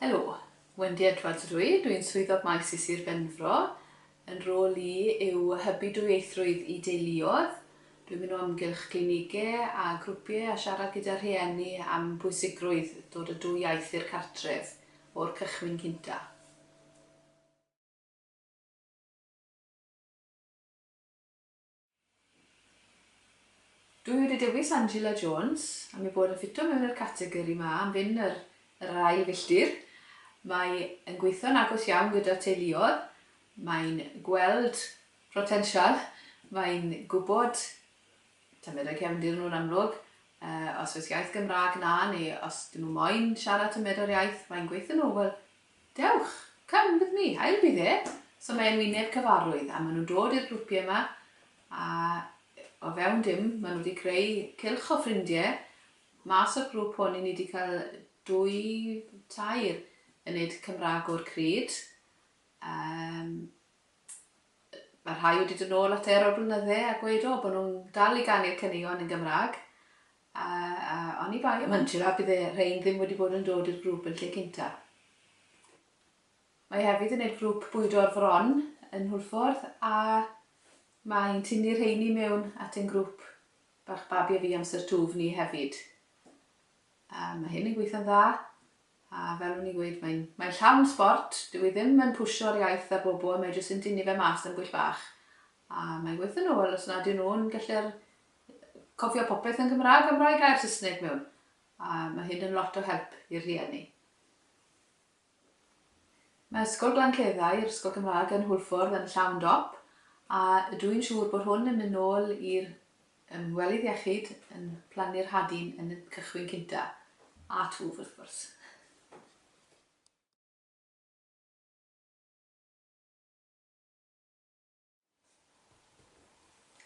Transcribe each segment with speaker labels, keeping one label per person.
Speaker 1: Helo, Wendy Edwards ydw i, dw i'n Swyddog Maes i Sir Benfro. Fy nhrôl i yw hybu dwyieithrwydd i deuluoedd. Dw i'n mynd o amgylch glinigau a grwpiau a siarad gyda rhieni am bwysigrwydd dod â dwy iaith i'r cartref o'r cychwyn cyntaf. Dwi wedi dewis Angela Jones am ei bod yn ffito mewn i'r categori 'ma am fynd yr yr ail filltir. Mae yn gweithio'n agos iawn gyda'r teuluodd, mae'n gweld protensial, mae'n gwybod tymheredd cefndir nhw'n amlwg, yy os oes iaith Gymraeg 'na neu os 'dyn nhw moyn siarad tymheredd iaith, mae'n gweithio nhw, wel, Dewch! Come with me! A yw bydd e? So mae e'n wyneb cyfarwydd a ma' nhw'n dod i'r grwpie yma a o fewn dim ma' nhw 'di creu cylch o ffrindie mas o'r grŵp hwn i ni 'di cael dwy tair yn neud Cymrag o'r cryd yym ma' rhai wedi dod nôl ata i ar ol blynydde a gweud o bo' nhw'n dal i ganu'r caneuon yn Gymrag A oni bai am Angela byddai rhein ddim wedi bod yn dod i'r grŵp yn lle cynta. Mae hefyd yn neud grŵp bwydo'r fron yn Hwlffordd a mae hi'n tynnu rheini mewn at ein grŵp bach babi a fi amser twf ni hefyd. A mae hyn yn gweithio'n dda a fel o'n i'n gweud mae'n mae llawn sbort, dyw hi ddim yn pwsio'r iaith ar bobl, mae jyst yn tynnu fe mas am gwyll bach a mae'n gweithio'n ôl os nad yw nhw'n gallu'r Cofio popeth yn Gymraeg am rai gair Saesneg mewn, a mae hyn yn lot o help i'r rhieni. Mae Ysgol Glanceddau, yr Ysgol Gymraeg yn Hwlffordd yn llawn dop, a ydw i'n siŵr bod hwn yn mynd nôl i'r ymwelydd iechyd yn plannu'r hadyn yn y cychwyn cynta, a twf wrth gwrs.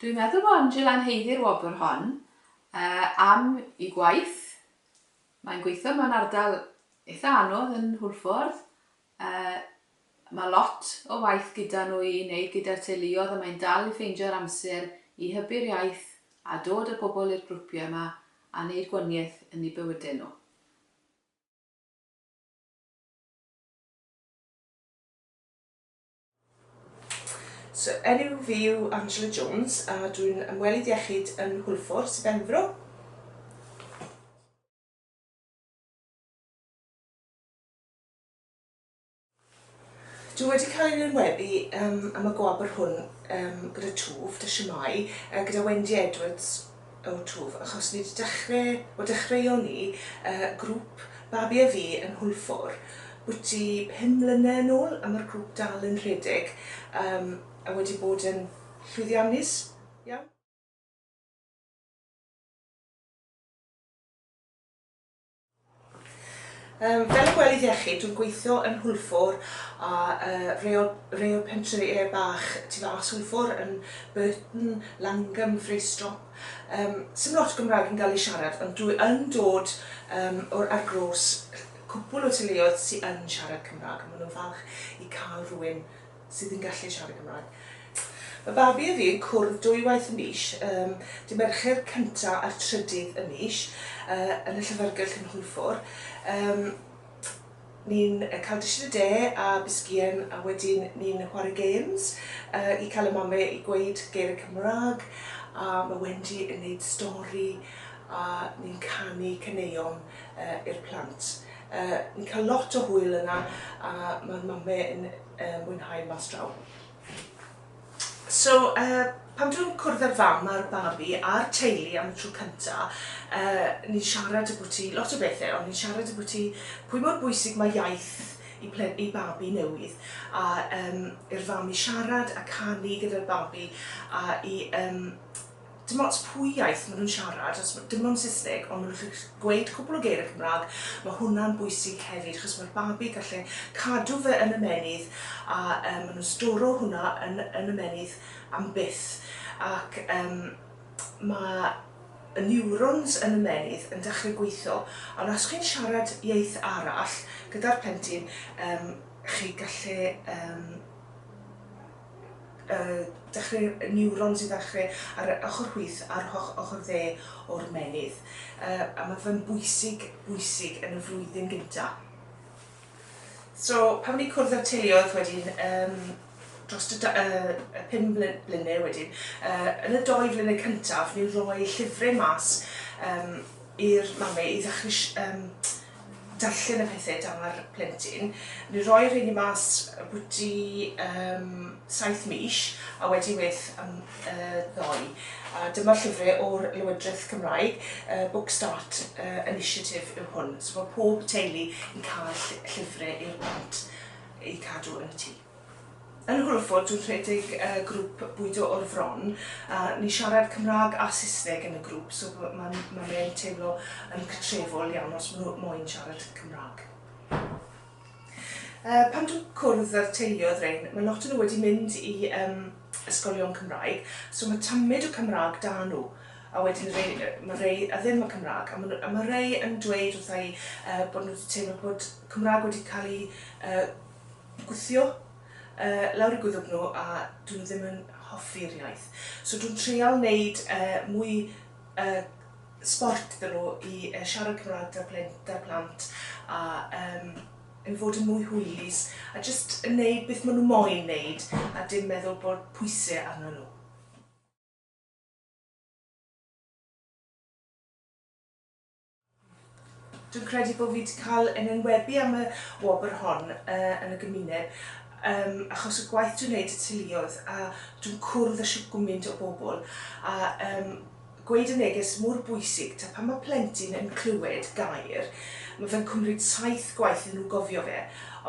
Speaker 1: Dwi'n meddwl bod Angela yn haeddu'r wobr hon am ei gwaith. Mae'n gweithio mewn ardal eitha' anodd yn Hwlffordd. Mae lot o waith gyda nhw i wneud gyda'r teuluoedd a mae'n dal i ffeindio'r amser i hybu'r iaith a dod â pobl i'r grwpiau 'ma a wneud gwanieth yn eu bywydau nhw.
Speaker 2: So, enw fi yw Angela Jones a dwi'n ymwelydd iechyd yn Hwlffordd, Sir Benfro. Dwi wedi cael ein enwebu um, am y gwobr hwn um, gyda Twf, da shwmae, uh, gyda Wendy Edwards, O'r twf, achos nid dechre o dechreuon ni y grŵp babi a fi yn Hwlffordd bwti pum mlyne yn ôl a ma'r grŵp dal yn rhedeg yym a wedi bod yn llwyddiannus iawn. Yym, fel ymwelydd iechyd, dwi'n gweithio yn Hwlffordd a yy reol reol pentrefi yy bach tu fas Hwlffordd yn Burton, Langham, Fracestrop. Yym, sim lot o Gymraeg yn ga'l ei siarad ond dwi yn dod yym o'r argroes cwpwl o teuluoedd sy yn siarad Cymra'g a ma' nw'n falch i ca'l rywun sydd yn gallu siarad Cymraeg. Mae babi a fi'n cwrdd dwy waith y mis, um, dy Mercher cyntaf a'r trydydd y mis, uh, yn y llyfrgell yn Hwlffordd. Um, ni'n cael dished y de a bisgien a wedyn ni'n chwarae games uh, i cael y mame i gweud geir y Cymraeg a mae Wendy yn neud stori a ni'n canu caneuon uh, i'r plant. Uh, ni'n cael lot o hwyl yna a mae'r mame yn yy mwynhau mas draw. So yy pan dwi'n cwrdd â'r fam a'r babi a'r teulu am y tro cynta yy ni'n siarad ambwti lot o bethe ond ni'n siarad ambwti pwy mor bwysig mae iaith i ple- i babi newydd a yym i'r fam i siarad a canu gyda'r babi a i yym Dim ots pwy iaith ma' nhw'n siarad, os ma'... dim ond Saesneg, ond ma' nhw'n gallu gweud cwpl o geiriau Cymraeg, ma' hwnna'n bwysig hefyd, achos ma'r babi gallu cadw fe yn ymennydd, a yym ma' nhw'n storo hwnna yn yn ymennydd am byth, ac yym ma' y niwrons yn ymennydd yn dechrau gweitho, ond os chi'n siarad iaith arall gyda'r plentyn, yym chi'n gallu yym dechreu niwrons i ddechreu ar yr ochr chwith a'r ochr dde o'r ymennydd a mae fe'n bwysig bwysig yn y flwyddyn gynta. So pan ni'n cwrdd â'r teuluoedd wedyn um, dros y, y pum blynedd wedyn, uh, yn y doi flynedd cyntaf ni'n rhoi llyfrau mas um, i'r mamau i ddechrau um, darllen y pethe da'r plentyn, ni roi rheini mas ambwti yym saith mis a wedi wyth am yy ddoe. A dyma'r llyfre o'r Lywydreth Cymraeg, y Book Start yy Initiative yw hwn, so ma' pob teulu yn ca'l ll- llyfre i'r plant eu cadw yn y tŷ. Yn Hwlwford dwi'n rhedeg grŵp bwydo o'r fron a ni'n siarad Cymraeg a Saesneg yn y grŵp so mae'n mae'n e'n teimlo yn cytrefol iawn os maen nhw moyn siarad Cymraeg. Yy pan dwi'n cwrdd â'r teuluoedd rhein mae lot o nhw wedi mynd i yym ysgolion Cymraeg so mae tymyd o Cymraeg 'da nhw a wedyn rei yy mae rei a ddim yn Cymraeg a maen nhw a mae rei yn dweud wrtha i yy bod nhw wedi teimlo bod Cymraeg wedi cael ei yy gwthio yy lawr i gwddwg nhw a 'dyn nhw ddim yn hoffi'r iaith. So dwi'n treial neud yy mwy yy sbort iddyn nhw i yy siarad Cymrâg 'da'r plen- 'da'r plant a yym i fod yn mwy hwylus a jyst yn neud beth ma' nhw moyn neud a dim meddwl bod pwyse arnyn nhw. Dwi'n credu bod fi 'di cael yn enwebu am y wobr hon yy yn y gymuned yym achos y gwaith dwi'n neud y teuluoedd a dwi'n cwrdd â shwt gwmynt o bobl a yym gweud y neges mor bwysig ta pan ma' plentyn yn clywed gair ma' fe'n cwmryd saith gwaith iddyn nhw gofio fe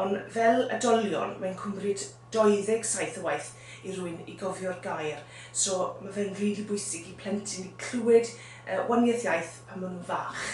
Speaker 2: ond fel oedolion mae'n cwmryd 27 o waith i rywun i gofio'r gair, so ma' fe'n rili bwysig i plentyn i clywed yy wanieth iaith pan ma' nhw'n fach.